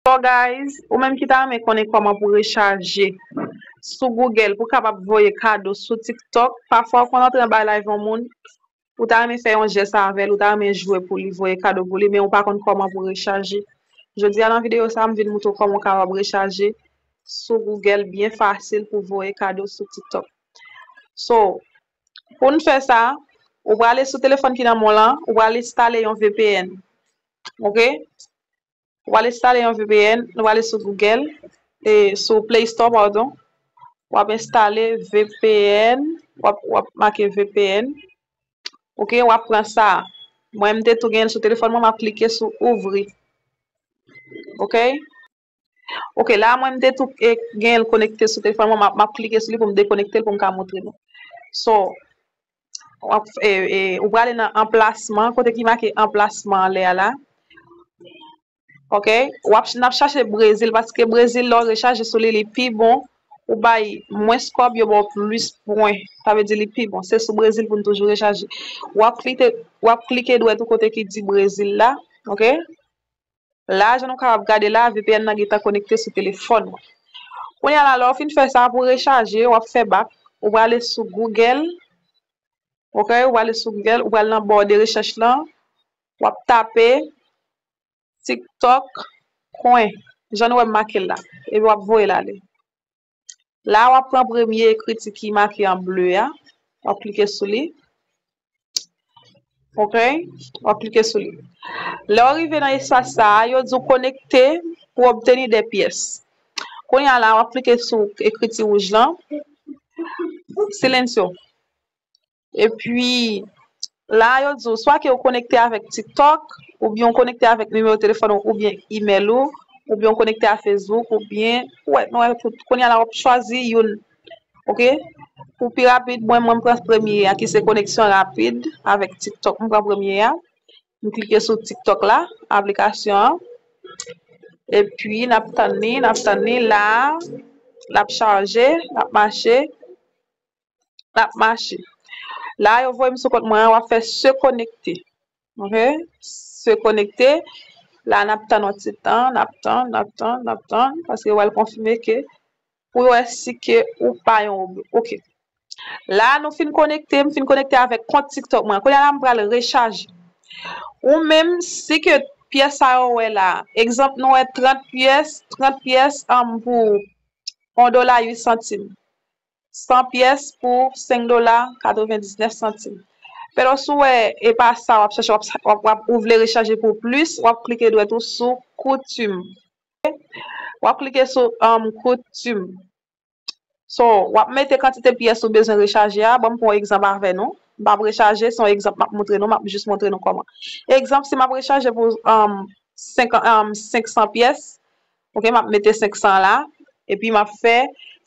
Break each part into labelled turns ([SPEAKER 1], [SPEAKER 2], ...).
[SPEAKER 1] So guys, ou menm ki ta renmen konnen kòman pou rechaje sou Google pou kapab voye kado sou tiktok, pafwa ou konn antre anba live yon moun, ou ta renmen fè yon jès avèl, ou ta renmen jwe pou li, voye kado pou li, men ou pa konn kòman pou rechaje. Jodi a nan videyo sa m vin moutre w kòman ou kapab rechaje sou Google byen fasil pou voye kado sou tiktok. So, pou n fè sa, ou prale sou telefòn ki nan men w lan, ou pral enstale yon vpn. Ok. Ou al enstale yon vpn, ou ale sou Google, e sou Play Store pardon, ou ap enstale vpn, ou ap ou ap make vpn, ok, ou ap pran sa, mwen mte tou gen sou telefon mwen, m ap klike sou ouvri, ok, ok la mwen mte tou gen konekte sou telefon mwen, m ap klike sou li pou m dekonekte l pou m ka montre nou, so. ou prale nan anplasman, kote ki make anplasman an lè a la. Ok, w ap n ap chache Brezil paske Brezil lè w rechaje sou li li pi bon, ou bay mwens kòb yo ba w plis pwen. Sa vle di li pi bon. Se sou Brezil pou n toujou rechaje. W ap klike dwèt ou kote ki di Brezil la. Ok. La jan nou kapab gade la vpn nan gentan konekte sou telefòn mwen. Kounya la lè w fin fè sa pou rechaje wap fè bak ou prale sou Google ok ou prale sou Google ou pral nan bò de rechèch lan wap tape tiktok coin jan nou wè m make l la epi wap voye l ale. La wap pran premye ekriti ki make an ble a, wap klike sou li. Ok, wap klike sou li. Lè ou rive nan espas sa a, yo di ou konekte pou obteni de pyès. Kounye a la wap klike sou ekriti wouj lan. Silensyo. Epi, la a yo di ou swa ke ou konekte avèk TikTok, oubyen ou konekte avèk nimewo telefòn ou oubyen imèl ou, oubyen ou konekte a Facebook oubyen, ou wè, nou wè tout. Kounye a la wap chwazi youn. Ok? Pou pi rapid, mwen mwen pran premye a ki se koneksyon rapid avèk TikTok. Mwen pran premye a. Mwen klike sou TikTok la, aplikasyon an. Epi, n ap tann li, n ap tann li. La a, l ap chaje, l ap mache. nap mache la yo voyem sou kont mwen an wap fè se konekte ok se konekte la nap tann yon ti tan nap tann nap tann nap tann paske wal konfime ke pou yo wè si ke ou pa yon roblo ok la nou fin konekte m fin konekte avèk kont tiktok mwen kounye a la m pral rechaje ou menm si ke pyès sa yo wè la egzanp nou wè 30 pyès 30 pyès anm pou 1 dola 8 santim 100 pyès pou 5 dola 99 santim pero si w wè e pa sa wap chache wap ou vle rechaje pou plis wap klike dwèt ou sou koutim wap klike sou koutim so wap mete kantite pyès ou bezwen rechaje a banm pran egzanp avè nou map rechaje son egzanp map montre nou map jis montre nou kòman egzanp si map rechaje pou 500 pyès ok map mete 500 la epi map fè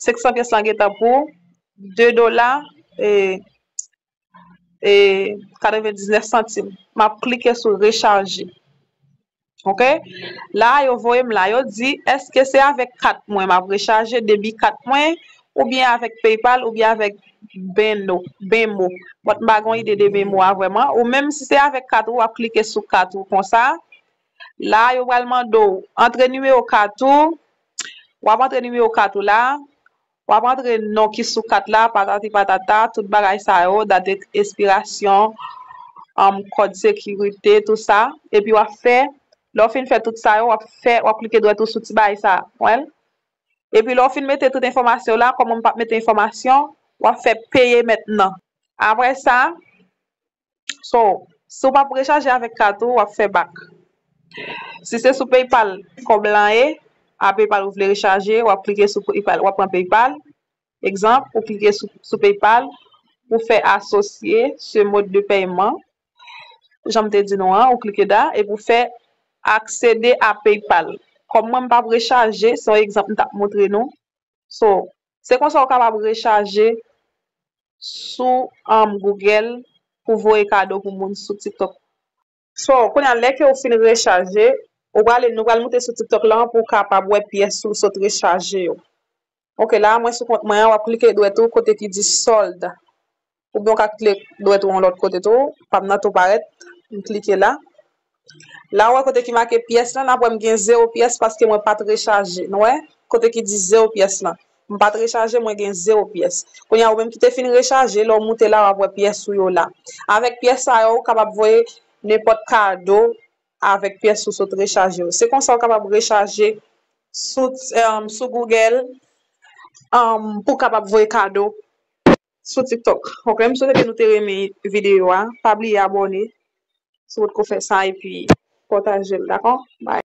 [SPEAKER 1] 500 pyès la gentan pou 2 dola e e 99 santim map klike sou rechaje ok la yo voyem la yo di eske se avèk kat mwen map rechaje debi kat mwen oubyen avèk paypal oubyen avèk benno benmo bòt m pa gon ide de benmo a vrèman ou menm si se avèk kat ou wap klike sou kat ou konsa. La yo pral mande w antre nimewo kat ou, w ap antre nimewo kat ou la, w ap antre non ki sou kat la patati patata tout bagay sa yo dat espirasyon anm kòd sekirite tou sa epi w ap fè lè w fin fè tout sa yo w ap fè w ap klike dwèt ou sou ti bagay sa wè l epi lè w fin mete tout enfòmasyon w la kòman m pa mete enfòmasyon w ap fè peye mètnan apre sa So, si w pa p rechaje avèk kat ou, w ap fè bak. Si se sou PayPal kòb lan ye, a PayPal ou vle rechaje, w ap klike sou PayPal, w ap pran PayPal, egzanp, ou klike sou PayPal, ou fè asosye se mòd de pèyman, jan m te di nou an, ou klike da, epi ou fè aksede a PayPal. Kòm mwen m pa p rechaje, se yon egzanp m t ap montre nou, so, Se konsa ou kapab rechaje sou Google pou voye kado pou moun sou TikTok. So, kounye a lè ke ou fin rechaje, ou prale, nou pral moute sou TikTok lan pou ou kapab wè pyès ou sot rechaje yo. Ok, la a mwen sou kont mwen an, wap klike dwèt ou kote ki di solde. Ou byen w ka kle dwèt ou yon lòt kote tou. Pam nan tou parèt. M klike la. La ou wè kote ki make pyès lan. N ap wè m gen zewo pyès paske mwen pa t rechaje. Nou wè? Kote ki di zewo pyès lan. M pa t rechaje, mwen gen zewo pyès. Kounye a ou menm ki te fin rechaje, lè w moute la w ap wè pyès ou yo la. Avèk pyès sa yo, ou kapab voye nenpòt kado avèk pyès ou sot rechaje yo. Se konsa ou kapab rechaje sou Google pou w kapab voye kado. sou tiktok ok m swete ke nou te renmen video a pa bliye abone si potko fè sa epi patajel dako bye.